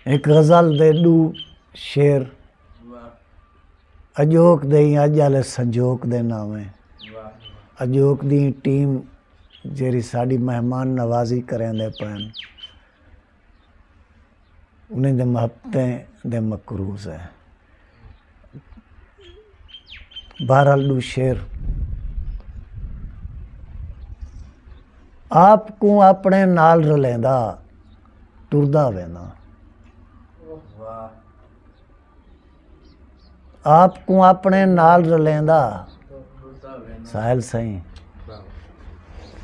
ہک غزل دے ݙو شعر اڄوک دے ایں اڄ آلے سنجوک دے ناویں اڄوک دی ایں ٹیم جیڑھی ساݙی مہمان نوازی کریندے پئن انہیں دے محبتیں دے مقروض ہیں بہرحال ڈو شعر آپ کو اپنے نال رلیندا ٹردا وینا آپ کو اپنے نال رلیندا ساحل سائیں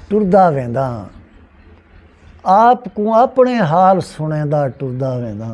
ٹردا ویندا آپ کو اپنے حال سنیندا ٹردا ویندا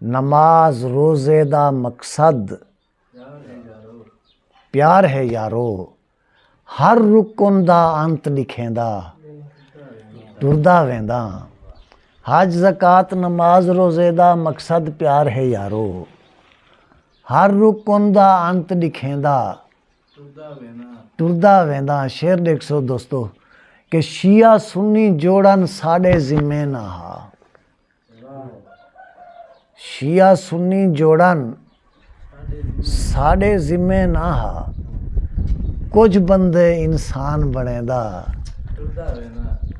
نماز روزے دا مقصد پیار ہے یارو ہر رکن دا انت لکھیندا ٹردا ویندا حج زکات نماز روزے دا مقصد پیار ہے یارو ہر رکن دا انت لکھیندا ٹردا ویندا شیر ڈیکھ سو دوستو کہ شیعہ سنی جوڑن ساڈے ذمے نہ ہا شیعہ سنی جوڑن ساڈے ذمے نہ ہا کچھ بندے انسان بنے دا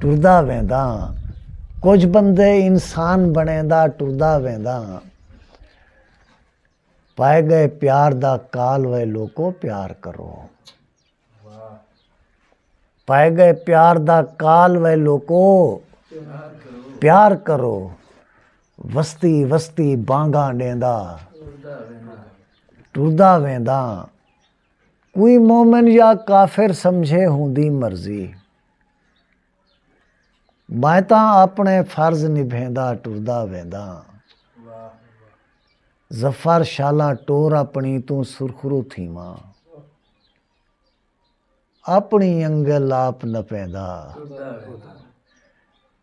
ٹردا ویندا کچھ بندے انسان بنے دا ٹردا ویندا پائے گئے پیار دا کال وے لوکو پیار کرو پائے گئے پیار دا کال وے لوکو پیار کرو وستی وستی بانگا ڈیندا ٹردا ویندا کوئی مومن یا کافر سمجھے ہوندی مرضی میں تاں اپنے فرض نبھیندا ٹردا ویندا ظفر شالا ٹور اپنی توں سرخرو تھیواں اپݨی انڳل آپ نپیندا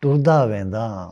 ٹردا ویندا ہاں